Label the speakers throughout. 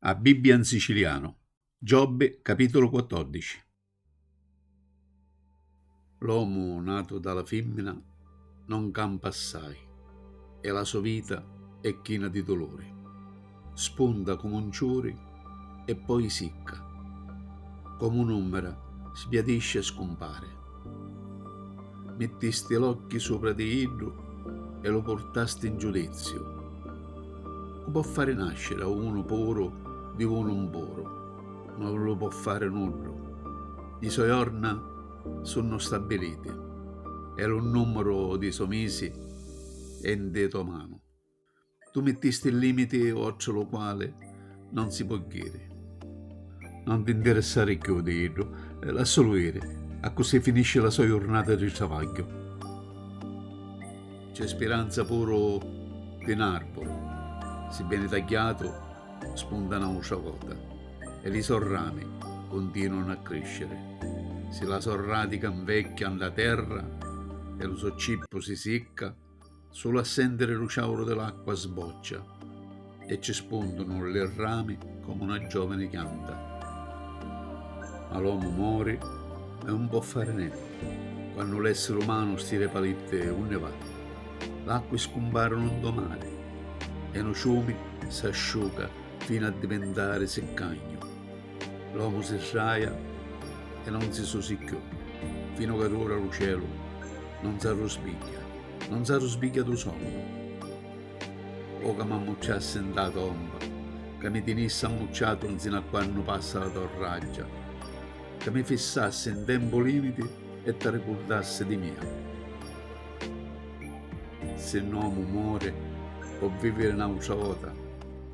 Speaker 1: A Bibbia in sicilianu. Giobbi, capitulu 14. L'omu natu da la fimmina non campa assai e la so vita è china di duluri. spunta comu un ciuri e poi sicca, comu un'umbra sbiadiscia e scumpari. Mittisti l'occhi supra di iddu e lu purtasti in giudiziu. Cu po' fari nasciri a unu puru di unu 'mpuru? Non lu po' fari nuddu. Li so' jorna sunnu stabiliti e lu numuru dî so' misi è 'nti to' manu. Tu mittisti il limiti oltre lu quali non si può ghiri. Non ti interessari cchiù di iddu, lassulu iri, accussì finisci la so jurnata di travagghiu. C'è spiranza puru di n'arburu, si vieni tagghiatu spunta n'autra vota e li so rami cuntinuanu a crisciri. Si la so radica 'nvecchia 'nta terra e lu so cippu si sicca, Sulu a sentiri lu ciauru di l'acqua sboccia e ci spundunu li rami comu na giovini chianta. Ma l'omu mori e un po' fari nenti. Quannu l'essiri umanu stira i palitti unni va? L'acqui scumparunu ntô mari e nu ciumi s'asciuca finu a divintari siccagnu. L'omu si sraja e non si susi cchiù, finu ca d'ora lu celu non s'arruspigghia, non s'arruspigghia du sonnu. O ca m'ammucciassi nta la tomba, ca mi tinissi ammucciatu nsinu a quannu passa la to raggia, ca mi fissassi n tempu limiti e t'arricurdassi di mia. Si n'omu mori, po viviri n'autra vota.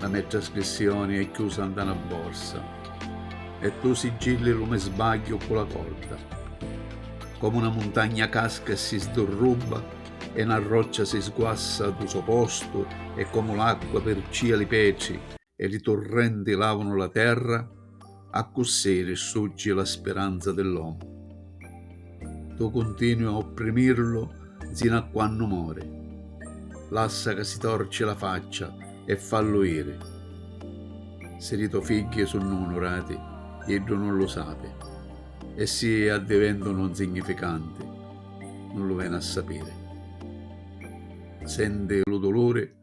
Speaker 1: La me trascrissioni è chiusa nta na borsa e tu siggilli lu me sbagghiu ccu la corda. Comu na muntagna casca e si sdurrubba e na roccia si sguassa dû so postu e comu l'acqua pircìa li petri e li turrenti làvunu la terra, Accussì risurgi la spiranza di l'omu. Tu cuntinui a opprimirlu nsinu a quannu mori. Lassa ca si torci la faccia e fallu iri. Si li to figghi sunnu unurati, iddu nun lu sapi, e si addiventunu nsignificanti, nun lu veni a sapiri. Senti lu duluri